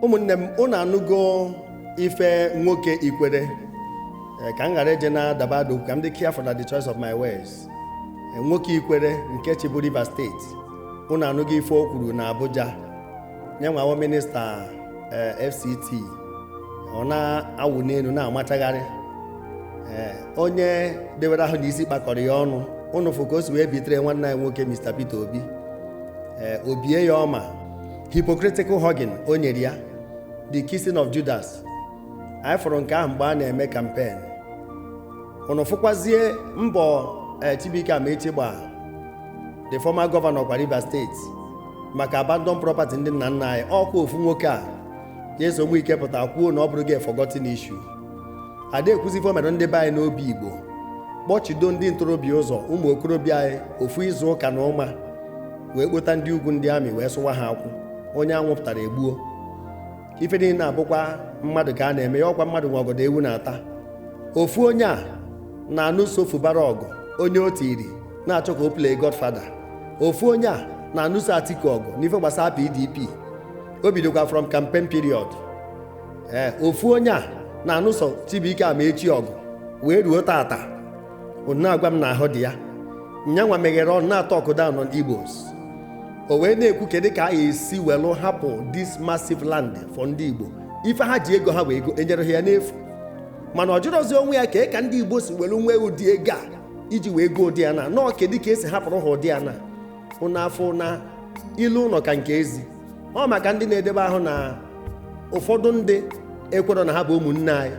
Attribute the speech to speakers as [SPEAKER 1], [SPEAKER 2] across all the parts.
[SPEAKER 1] ụmụnne m ụnụ anụgo ife nwoke ikwere eh, ka m ghara eje na daba adụ ka m dị careful na the choice of my words eh, nwoke ikwere nke chịbu Rivers steeti ụnụ anụgo ife o kwuru na Abuja nyanwa wụ minista eh, FCT ọ na-awụ n'elu na-amachagharị onye dewere ahụ na isi kpakọrọ ya ọnụ ụnụ fụ ka o si wee bitere nwanne anyị nwoke Mr. Peter Obi o bie ya ọma hypocritical hugging o nyere ya the kissing of Judas anyị fụrụ nke ahụ mgbe a na-eme kampen ụnụ fụkwazie mbọ Chibuike Amaechi gba the former governor kwa Rivers steeti maka abandon property ndị nna nna anyị ọkwa ofu nwoke a Nyesom Wike pụta kwuo na ọ bụrụgo a forgotten issue ada ekwuzi ife o mere ndị be anyị n'Obigbo kpọchido ndị ntorobịa ụzọ ụmụ okorobịa anyị ofu izu ụka na ụma wee kpota ndị ugwu ndị army wee sụwa ha akwụ onye a nwụpụtara e gbuo ife niile na-abụkwa mmadụ ka a na-eme ya ọkwa mmadụ nwe ọgọdọ ewu na-ata ofu onye a na-anụso Fubara ọgụ onye o tiri na-achọ ka o play godfather ofu onye a na-anụso atiku ọgụ n'ife gbasara pdp o bidokwa from campaign period ee ofu onye a na-anụso chibuike amaechi ọgụ wee ruo tata ị na-agwa m na ahụ dị ya nyanwa meghere ọnụ na-atalk down on Igbos o wee na-ekwu kedu ka a esi welụ hapụ this massive land for ndị Igbo ife ha ji ego ha wee goo enyerọ ha ya n'efu mana ọ jụrọzi onwe ya kee ka ndị Igbo si welu nwee ụdị ego e ji wee goo ụdị ana no kedu ka esi hapụrụ ha ụdị ana ụnụ afụ na ilo ụnọ ka nke ezi ọ maka ndị na-edebe ahụ na ụfọdụ ndị ekwerọ na ha bụ ụmụnne anyị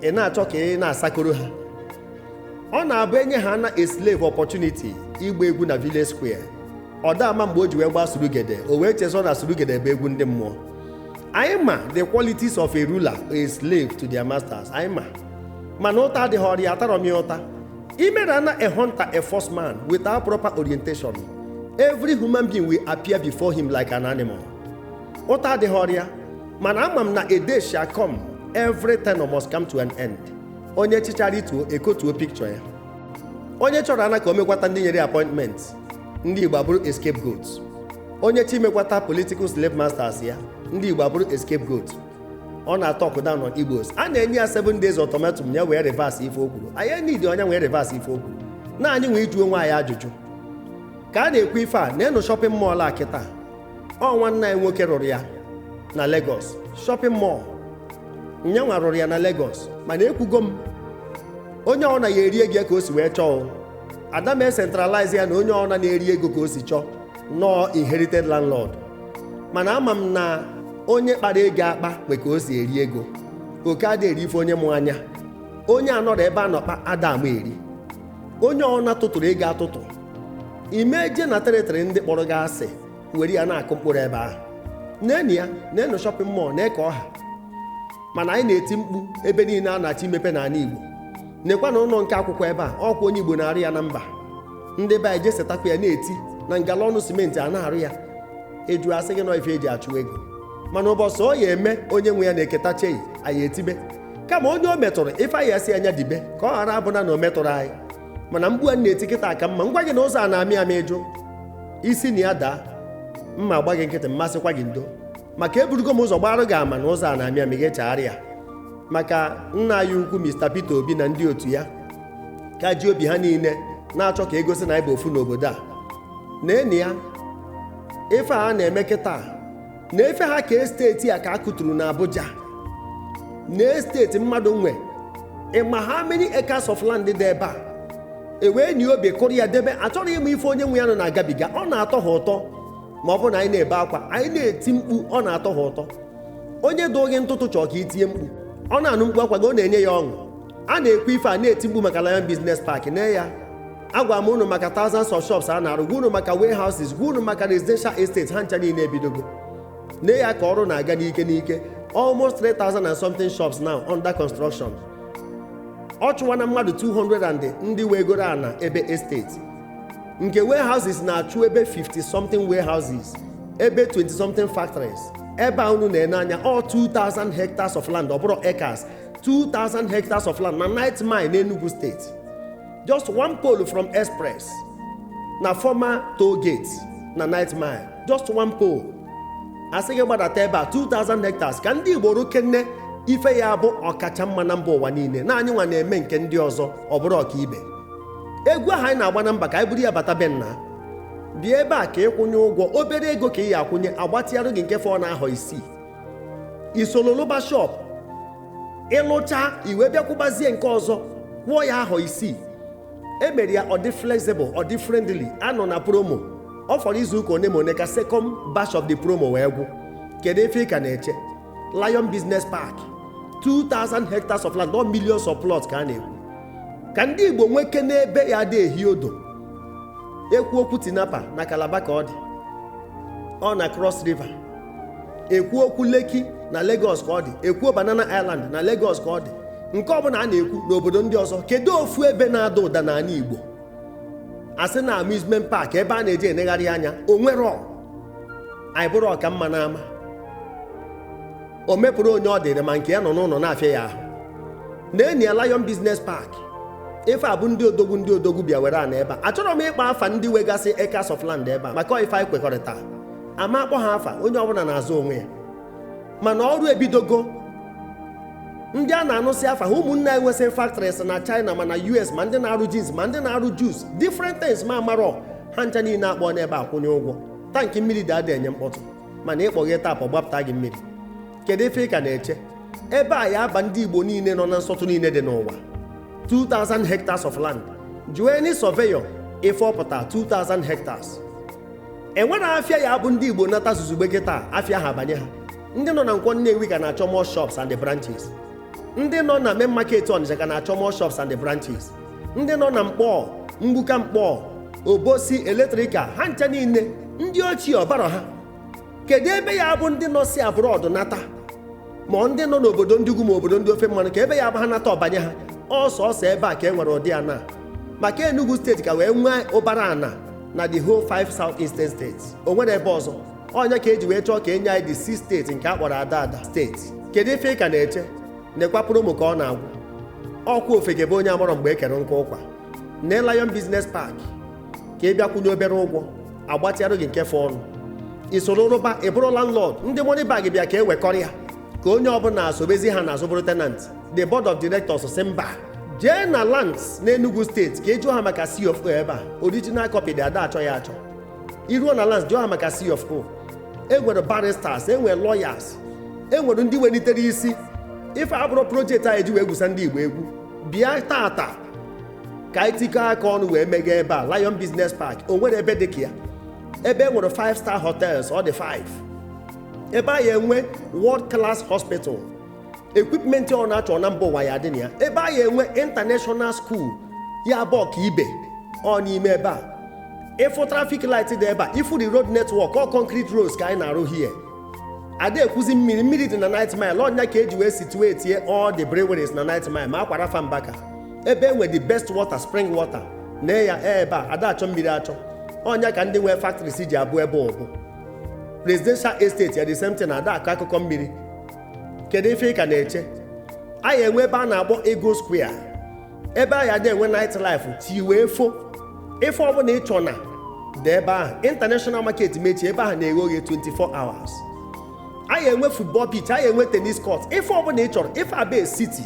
[SPEAKER 1] ị na-achọ ka ị na-asakoro ha ọ na-abụ enye ha na a slave opportunity ịgba egwu na village square ọ da ama mgbe o ji wee gbaa surugede o wee chezọ na surugede bụ egwu ndị mmụọ anyị ma the qualities of a ruler a slave to their masters anyị ma mana ụta adịghịrị ya atarọ m ya ụta Ime na na a hunter a force man without proper orientation, every human being will appear before him like an animal. Ụta adịghịrị ya, mana ama m na a day shall come, every tenure must come to an end. Onye chịchaa rituo e kotuo picture ya. Onye chọrọ ana ka o mekwata ndị nyere appointment, ndị Igbo abụrụ a scapegoat. Onye chọọ imekwata political slave masters ya, ndị Igbo abụrụ a scapegoat. ọ na-atalk down on igbos a na-enye ya 7 days ultimatum ya wee reverse ife o kwuru anyị needirọ nya wee reverse ife o kwuru na anyị nwe ịjụ onwe anyị ajụjụ ka a na-ekwu ife a na a new shopping mall a kịta ọ nwanne anyị nwoke rụrụ ya na Lagos shopping mall nyanwa rụrụ ya na Lagos mana ekwugo m onye ọna ya erie ego ya ka o si wee chọọ ada m ecentralize ya na onye ọna na-eri ego ka o si chọọ nọọ inherited landlord mana ama m na onye kpara ego akpa nwe ka o si eri ego oke ada eri ife onye mụ anya onye anọrọ ebe a nọkpa ada ama eri onye ọna tụtụrụ ego atụtụ ime je na territory ndị kpọrọ gị asị were ya na-akụ mkpụrụ ebe ahụ nenu ya nenu shopping mall na-eke ọha mana anyị na-eti mkpu ebe niile a na-achọ imepe n'ala Igbo nekwanụ ụlọ nke akụkwọ ebe a ọkwa onye Igbo na-arụ ya na mba ndị be anyị jesetakwa ya na-eti na ngala ọnụ simenti a na-arụ ya eju asị gị n'ọ ife eji achụ ego mana ụbọchị ọ ya eme onye nwe ya na-eketa chei anyị etibe kama onye o metụrụ ife anyị asị anya dibe ka ọ ghara abụna na o metụrụ anyị mana mkpu a na-eti kịta ọ ka mma m gwa gị na ụzọ a na-amị amị ị jụ i si na ya daa m ma agba gị nkịtị m ma asịkwa gị ndo maka eburugo m ụzọ gbara gị ama na ụzọ a na-amị amị gị chagharịa maka nna anyị ukwu Mr. Peter Obi na ndị otu ya ka ji obi ha niile na-achọ ka egosi na anyị bụ ofu n'obodo a nenu ya ife a na-eme kịta na ife ha ka estate a ka a kụturu na Abuja na estate mmadụ nwe ịma how many acres of land dị ebe a ewee nye obi kụrụ ya debe achọrọ ịma ife onye nwe ya nọ na-agabiga ọ na-atọ ha ụtọ ma ọ bụrụ na anyị na-ebe akwa anyị na-eti mkpu ọ na-atọ ha ụtọ onye dụọ gị ntụtụ chọọ ka i tie mkpu ọ na-anụ mkpu akwa gị ọ na-enye ya ọṅụ a na-ekwu ife a na-eti mkpu maka Lion Business Park nee ya agwara m unu maka thousands of shops a na-arụ gwa unu maka warehouses gwa unu maka residential estates ha ncha niile ebidogo nee ya ka ọrụ na-aga n'ike n'ike almost 3000 and something shops now under construction ọ chụwana mmadụ 200 and ndị wegoro ana ebe estate nke warehouses na-achụ ebe 50 something warehouses ebe 20 something factories ebe a unu na-ene anya ọ 2000 hectares of land ọ bụrọ acres 2000 hectares of land na 9th Mile n'Enugu steeti just one pole from express na former toll gate na 9th Mile just one pole asị gị gbadata ebe a 2000 hectares ka ndị Igbo rụkene ife ya-abụ ọkacha mma na mba ụwa niile na anyị nwa na-eme nke ndị ọzọ ọ bụrụ ọkaibe egwu ahụ anyị na-agba na mba ka anyị buru ya bata be nna bịa ebe a ka ịkwụnye ụgwọ obere ego ka ị ya akwụnye agbatịarụ gị nke fọ na ahọ isii i soro lụba shop ị lụcha i wee bịa kwụbazie nke ọzọ kwụọ ya ahọ isii emere ya ọ dị flexible ọ dị friendly anọ na promo ọ fọrọ izu ụka one ma one ka second batch of the promo wee gwụ kedu ife ị ka na-eche Lion Business Park 2000 hectares of land not millions of plots ka a na-ekwu ka ndị Igbo nwekene ebe ya-adị ehi ụdụ ekwu okwu Tinapa na Calabar ka ọ dị ọ na Cross River ekwu okwu Lekki na Lagos ka ọ dị ekwu Banana Island na Lagos ka ọ dị nke ọbụla a na-ekwu n'obodo ndị ọzọ kedu ofu ebe na-ada ụda n'ala Igbo asị na amusement park ebe a na-eji enegharị anya o nwere ọ anyị bụrụ ọka mma n'ama o mepụrụ onye ọ dịrị ma nke ya nọ n'ụnọ na-afịa ya ahụ na enyi ya Lion Business Park ife a bụ ndị odogwu ndị odogwu bịa were ana ebe a achọrọ m ịkpọ afa ndị wegasị acres of land ebe a maka ife anyị kwekọrịta ama akpọ ha afa onye ọbụna na-aza onwe ya mana ọrụ ebidogo ndị a na-anụsị afa ha ụmụnne anyị nwesịrị factories na China ma na US ma ndị na-arụ jeans ma ndị na-arụ juice different things m amarọ ha ncha niile akpọ n'ebe a kwụnye ụgwọ tankị mmiri dị adị enye mkpọtụ mana ị kpọghee tap ọ gbapụta gị mmiri kedu ife ị ka na-eche ebe a ya aba ndị Igbo niile nọ na nsọtụ niile dị n'ụwa 2000 hectares of land jụọ any surveyor ife ọ pụta 2000 hectares enwere afịa ya bụ ndị igbo nata zuzugbe kịta afịa ha abanye ha ndị nọ na nkwọ nnewi ka na-achọ more shops and branches ndị nọ na main market ọnịcha ka na-achọ more shops and branches ndị nọ na nkpọ mgbuka nkpọ obosi electrical ha ncha niile ndị ochie ọ barọ ha kedu ebe ya bụ ndị nọ si abroad nata ma ndị nọ n'obodo ndị ugwu ma obodo ndị ofe mmanụ kee ebe ya bụ ha nata ọ banye ha ọ sọsọ ebe a ka e nwere ụdị ana maka enugu steeti ka wee nwee ụbara ana na the whole five south eastern states o nwere ebe ọzọ ọ nya ka e ji wee chọọ ka e nye anyị the sixth steeti nke a kpọrọ Adada steeti kedu ife ị ka na-eche nekwa promo ka ọ na-agwụ ọkwa ofeke bụ onye amarọ mgbe e kere nkụ ụkwa na Lion Business Park ka ị bịa kwụnye obere ụgwọ agbatịarụ gị nke fọ ọnụ i soro rụba ị bụrụ landlord ndị money bag bịa ka e wekọrịa ka onye ọbụna esobezi ha n'azụ bụrụ tenant the board of directors sị mba jee na lands n'enugu steeti ka ị jụọ ha maka c of o ebe a original copy dị ada achọ ya achọ i ruo na lands jụọ ha maka c of o e nwere barristers e nwere lawyers e nwere ndị wenitere isi ife a abụrọ project anyị ji wee egwusa ndị igbo egwu bịa taata ka anyị tikọ aka ọnụ wee meghee ebe a lion business park o nwere ebe dị ka ya ebe e nwere 5 star hotels ọ dị 5 ebe a ya enwe world class hospital equipment ọbụna a chọ na mba ụwa ya adị na ya ebe a ya enwe international school ya bụ ọka ibe ọ n'ime ebe a ị fụ traffic light dị ebe a ị fụ the road network ọ concrete roads ka anyị na-arụ here ada ekwuzi mmiri mmiri dị na 9th mile ọ nya ka e ji wee situate all the breweries na 9th mile ma Aqua Rapha Mbaka ebe enwe the best water spring water na ya e ebe a ada achọ mmiri achọ ọ nya ka ndị nwee factories ji abụ ebe ọbụ residential estate ya the same thing na ada akọ akụkọ mmiri kedu ife ị ka na-eche a ya enwe ebe a na-akpọ Eagle Square ebe a ya adị enwe night life chi wee fo ife ọbụna ị chọ na-adị ebe ahụ international market mechie ebe ahụ na-eghe oghe 24 hours a ya enwe football pitch a ya enwe tennis court ife ọbụna ị chọrọ ife a bụ city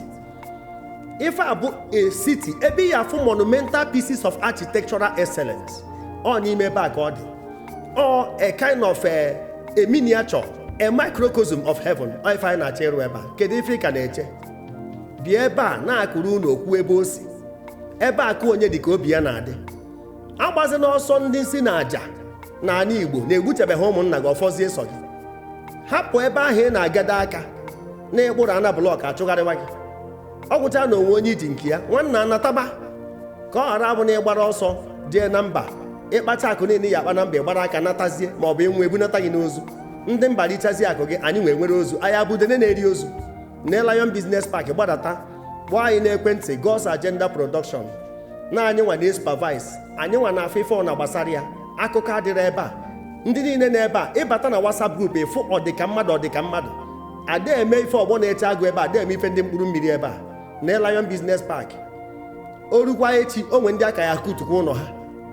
[SPEAKER 1] ife a bụ a city ebe ị ya-afụ monumental pieces of architectural excellence ọ n'ime ebe a ka ọ dị ọ a kind of a, a miniature a microcosm of heaven ọ ife anyị na-achọ ịrụ ebe a kedu ife ị ka na-eche bịa ebe a na-akọrọ unu okwu ebe ọ sị ebe akụ onye dị ka obi ya na-adị agbazina ọsọ ndị nsi na aja n'ala igbo na egbuchabeghị ụmụnna gị ọfọzie sọ gị hapụ ebe ahụ ị na-agado aka na ị kpụrụ ana blọk achụgharịwa gị ọ gwụcha na o nwe onye i ji nke ya nwanna nataba ka ọ ghara abụ na ị gbara ọsọ jee na mba ị kpacha akụ niile ị ya-akpa na mba ị gbara aka natazie ma ọ bụ ị nwụọ ebunata gị n'ozu ndị mba richazie akụ gị anyị nwa enwere ozu anyị abụ udene na-eri ozu na Lion Business Park gbadata kpọọ anyị n'ekwentị God's Agenda Production na anyị nwa na supervise anyị nwa na-afụ ife ọbụna gbasara ya akụkọ adịrị ebe a ndị niile nọ ebe a ị bata na WhatsApp group ị fụ ọdịka mmadụ ọdịka mmadụ ada eme ife ọgbọ na-eche agụ ebe a ada eme ife ndị mkpụrụ mmiri ebe a na Lion Business Park o rukwa echi o nwe ndị a ka ya-akụtukwa ụnọ ha